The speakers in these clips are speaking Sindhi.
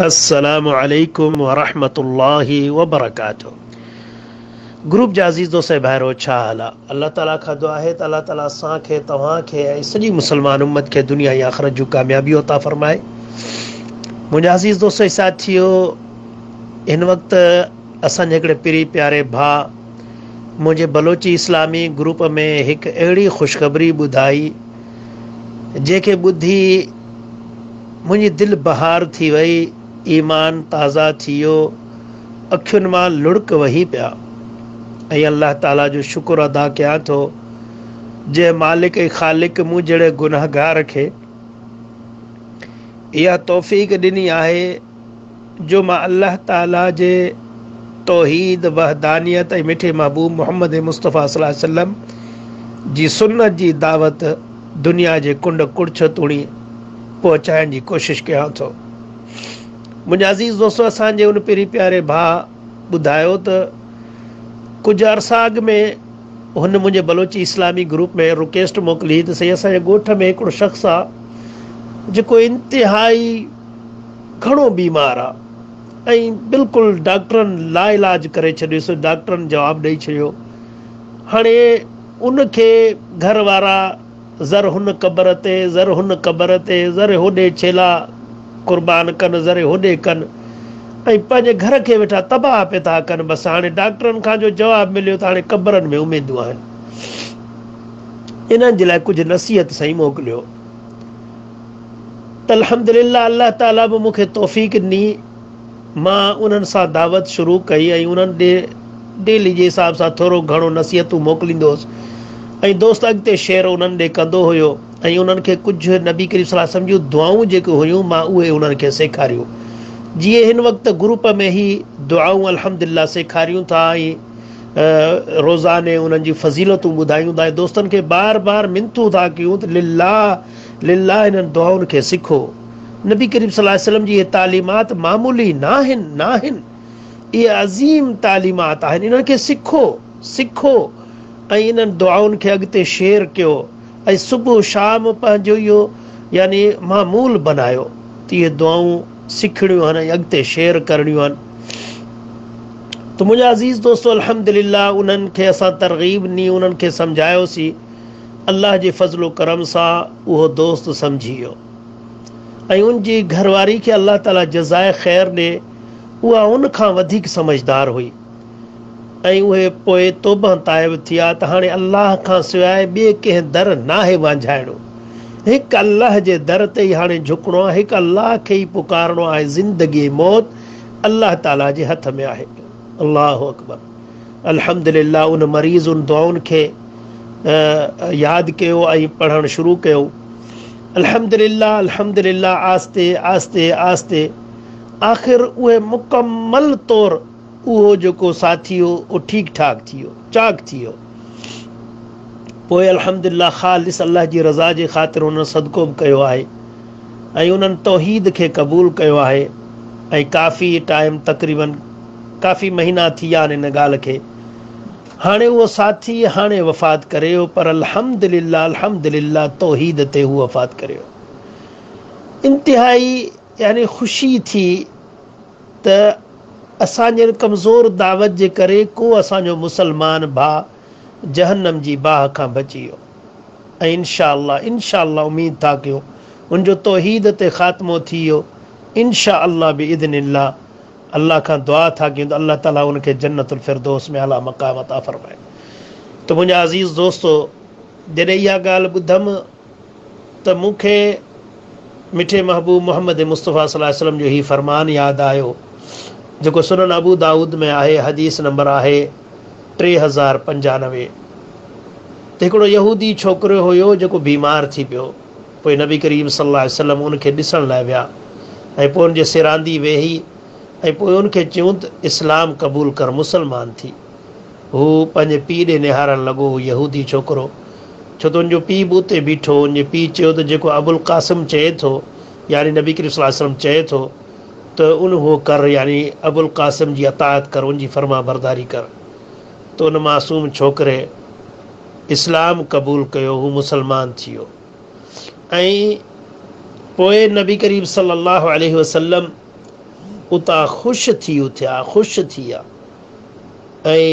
السلام عليڪم ورحمة الله وبرڪاته گروپ جا عزيز دوست ۽ ڀائرو ڇا حال آ الله تعالي کان دعا آهي ته الله تعالي اسان کي توهان کي ۽ سڄي مسلمان امت کي دنيا ۽ آخرت جون ڪاميابيون عطا فرمائي منهنجا عزيز دوست ۽ ساٿيو هن وقت اسان جي هڪڙي پري پياري ڀا منهنجي بلوچي اسلامي گروپ ۾ هڪ اهڙي خوشخبري ٻڌائي جنهن کي ٻڌي منهنجي دل بهار ٿي وئي، ايمان تازه ٿي ويو، اکين مان لڙڪ وهي پيا ۽ الله تعالي جو شڪر ادا ڪيان ٿو جنهن مالڪ ۽ خالق مون جهڙي گنهگار کي اها توفيق ڏني آهي جو مان الله تعاليٰ جي توحيد، وحدانيت ۽ مٺي محبوب محمد مصطفيٰ صلي الله عليه وسلم جي سنت جي دعوت دنيا جي ڪنڊ ڪڙڇ توڻي پهچائڻ جي ڪوشش ڪيان ٿو. منهنجا عزيز دوستو! اسان جي ان پيري پياري ڀاء ٻڌايو ته ڪجهه عرصا اڳ ۾ هن منهنجي بلوچي اسلامي گروپ ۾ رڪيسٽ موڪلي هئي ته سائين اسان جي ڳوٺ ۾ هڪڙو شخص آ جيڪو انتهائي گهڻو بيمار آ ۽ بلڪل ڊاڪٽرن لاعلاج ڪري ڇڏيس ڊاڪٽرن جواب ڏئي ڇڏيو هاڻي ان کي گهر وارا ذر هن قبر تي ذر هن قبر تي ذر هوڏي ڇيلا قربان ڪن ذر هوڏي ڪن ۽ پنهنجي گهر کي ويٺا تباهه پي ٿا ڪن بس هاڻي ڊاڪٽرن کان جو جواب مليو ته هاڻي قبرن ۾ اميدون آهن انهن جي لاء ڪجهه نصيحت سائين موڪليو. الحمدلله الله تعاليٰ به مون کي توفيق ڏني مان انهن سان دعوت شروع ڪئي ۽ انهن ڏي ڊيلي جي حساب سان ٿورو گهڻو نصيحتون موڪليندو هوس ۽ دوست اڳتي شيئر انهن ڏي ڪندو هيو ۽ انهن کي ڪجهه نبي ڪريم صلي الله عليه وسلم جون دعائون جيڪي هيون مان اهي انهن کي سيکاريون جيئن هن وقت گروپ ۾ هي دعائون الحمدلله سيکاريون ٿا ۽ روزاني انهن جي فضيلتون ٻڌايون ٿا ۽ دوستن کي بار بار منٿون ٿا ڪيون ته لله لله انهن دعائن کي سکو. نبي ڪريم صلي الله عليه وسلم جي اهي تعليمات معمولي ناهن ناهن اهي عظيم تعليمات آهن انهن کي سکو سکو ۽ انهن دعائن کي اڳتي شيئر ڪيو ۽ صبح شام پنهنجو اهو يعني معمول بنايو ته اهي دعائون سکڻيون آهن ۽ اڳتي شيئر ڪرڻيون آهن ته منهنجا عزيز دوستو الحمدلله انهن کي اسان ترغيب ڏني انهن کي سمجهايوسين الله جي فضل و ڪرم سان اهو دوست سمجهي ويو ۽ ان جي گهر واري کي الله تعالي جزائي خير ڏي اها ان کان وڌيڪ سمجهدار هئي ۽ اهي پوء توبهه تائب ٿيا ته هاڻي الله کان سواء ٻئي ڪنهن در ناهي وانجهائڻو هڪ الله جي در تي ئي هاڻي جهڪڻو آهي هڪ الله کي ئي پڪارڻو آهي زندگي ۽ موت الله تعالي جي هٿ ۾ آهي الله اڪبر. الحمد لله ان مريض ان دعائن کي ياد ڪيو ۽ پڙهڻ شروع ڪيو الحمد لله الحمد لله آهستي آهستي آهستي آخر اهي مڪمل طور اهو جيڪو ساٿي هو اهو ٺيڪ ٺاڪ ٿي ويو چاڪ ٿي ويو پوء الحمد لله خالص الله جي رضا جي خاطر هن صدقو به ڪيو آهي ۽ انهن توحيد کي قبول ڪيو آهي ۽ ڪافي ٽائيم تقريباً ڪافي مهينا ٿي ويا آهن ان ڳالهه کي هاڻي اهو ساٿي هاڻي وفات ڪري ويو پر الحمدلله الحمدلله توحيد تي هو وفات ڪري ويو انتهائي يعني خوشي ٿي ته اسان جهڙي ڪمزور دعوت جي ڪري ڪو اسان جو مسلمان ڀاء جهنم جي باهه کان بچي ويو ۽ انشاء الله انشاء الله اميد ٿا ڪيون ان جو توحيد تي خاتمو ٿي ويو انشاء الله باذن الله الله کان دعا ٿا ڪيون ته الله تعالي ان کي جنت الفردوس ۾ اعليٰ مقام عطا فرمائي ته منهنجا عزيز دوستو جڏهن اها ڳالهه ٻڌم ته مون کي مٺي محبوب محمد مصطفيٰ صلي الله عليه وسلم جو هي فرمان ياد آيو جيڪو سنن ابو دائود ۾ آهي حديث نمبر آهي ٽي هزار پنجانوي ته هڪڙو يهودي ڇوڪريو هيو جيڪو بيمار ٿي پيو پوء نبي ڪريم صلي الله عليه وسلم ان کي ڏسڻ لاء ويا ۽ پوء ان جي سيراندي ويهي ۽ پوء ان کي چيون ته اسلام قبول ڪر مسلمان ٿي هو پنهنجي پيء ڏي نهارڻ لڳو، يهودي ڇوڪرو، ڇو تنهنجو پيء به اتي بيٺو؟ هن جي پيء چيو ته جيڪو ابوالقاسم چئي ٿو، يعني نبي ڪريم صلي الله عليه وسلم چئي ٿو ته ان هو ڪر، يعني ابوالقاسم جي اطاعت ڪر، ان جي فرمانبرداري ڪر. ته ان معصوم ڇوڪري اسلام قبول ڪيو، هو مسلمان ٿيو ۽ پوء نبي ڪريم صلي الله عليه وسلم اتان خوش ٿي اٿيا، خوش ٿي ويا. ۽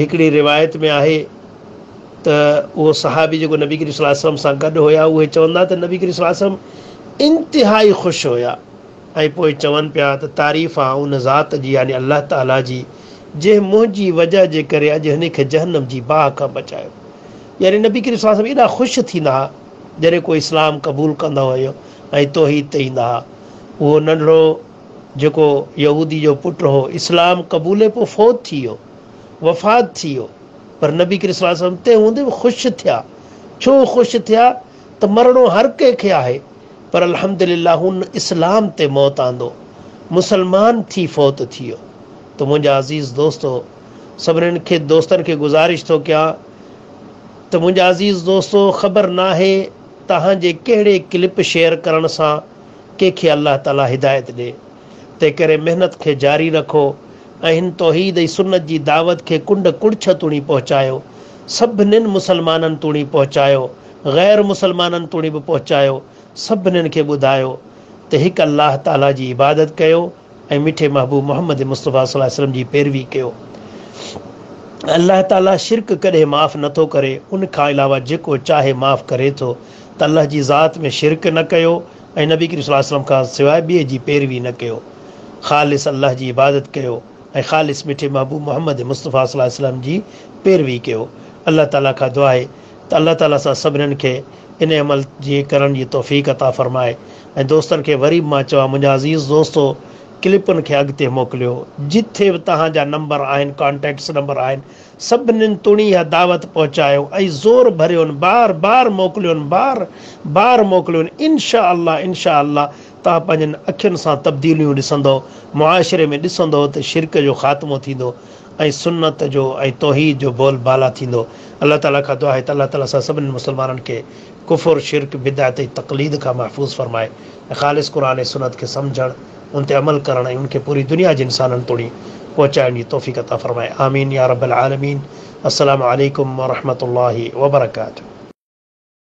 هڪڙي روايت ۾ آهي ته اهو صحابي جيڪو نبي ڪريم صلي الله عليه وسلم سان گڏ هيا اهي چوندا ته نبي ڪريم صلي الله عليه وسلم انتهائي خوش هيا ۽ پوء چون پيا ته تعريف آ ان ذات جي يعني الله تعالي جي جنهن منهنجي وجهه جي ڪري اڄ هن کي جهنم جي باهه کان بچايو يعني نبي ڪريم صلي الله عليه وسلم ايڏا خوش ٿيندا ها جڏهن ڪو اسلام قبول ڪندا هيا ۽ توحيد تي ايندا ها اهو ننڍڙو جيڪو يهودي جو پٽ هو، اسلام قبولي پوء فوت ٿي ويو، وفات ٿي ويو، پر نبي ڪريم صلي الله عليه وسلم اتي هوندي به خوش ٿيا، ڇو خوش ٿيا ته مرڻو هر ڪنهن کي آهي، پر الحمدلله هن اسلام تي موت آندو، مسلمان ٿي فوت ٿي ويو، ته منهنجا عزيز دوستو سڀنن کي دوستن کي گذارش ٿو ڪيان ته منهنجا عزيز دوستو خبر ناهي توهان جي ڪهڙي ڪلپ شيئر ڪرڻ سان ڪنهن کي الله تعالي هدايت ڏي. تنهنڪري محنت کي جاري رکو ۽ هن توحيد ۽ سنت جي دعوت کي ڪنڊ ڪڙڇ توڻي پهچايو. سڀنين مسلمانن توڻي پهچايو، غير مسلمانن توڻي به پهچايو. سڀنين کي ٻڌايو ته هڪ الله تعالي جي عبادت ڪيو. ۽ مٺي محبوب محمد مصطفيٰ صلي الله عليه وسلم جي پيروي ڪيو. الله تعالي شرڪ ڪڏهن معاف نه ٿو ڪري، ان کان علاوه جيڪو چاهي معاف ڪري ٿو ته الله جي ذات ۾ شرڪ نه ڪيو ۽ نبي ڪريم صلي الله عليه وسلم کان سواء ٻئي جي پيروي نه ڪيو. خالص الله جي عبادت ڪيو ۽ خالص مٺي محبوب محمد مصطفيٰ صلي الله عليه وسلم جي پيروي ڪيو. الله تعالي کان دعا آهي ته الله تعالي اسان سڀنن کي ان عمل جي ڪرڻ جي توفيق عطا فرمائي. ۽ دوستن کي وري به مان چوان منهنجا عزيز دوستو ڪلپن کي اڳتي موڪليو جتي به توهان جا نمبر آهن ڪانٽيڪٽس نمبر آهن سڀنين توڻي اها دعوت پهچايو ۽ زور ڀريون بار بار موڪليون بار بار موڪليون انشاء الله انشاء الله توهان پنهنجين اکين سان تبديليون ڏسندو معاشري ۾ ڏسندو ته شرڪ جو خاتمو ٿيندو ۽ سنت جو ۽ توحيد جو بول بالا ٿيندو الله تعالي کان دعا آهي ته الله تعالي اسان سڀنين مسلمانن کي ڪفر، شرڪ، بدعت ۽ تقليد کان محفوظ فرمائي ۽ خالص قرآن ۽ سنت کي سمجهڻ، ان تي عمل ڪرڻ ۽ ان کي پوري دنيا جي انسانن توڻي پهچائڻ جي توفيق عطا فرمائي. آمين يا رب العالمين. السلام عليڪم ورحمة الله وبرڪاته.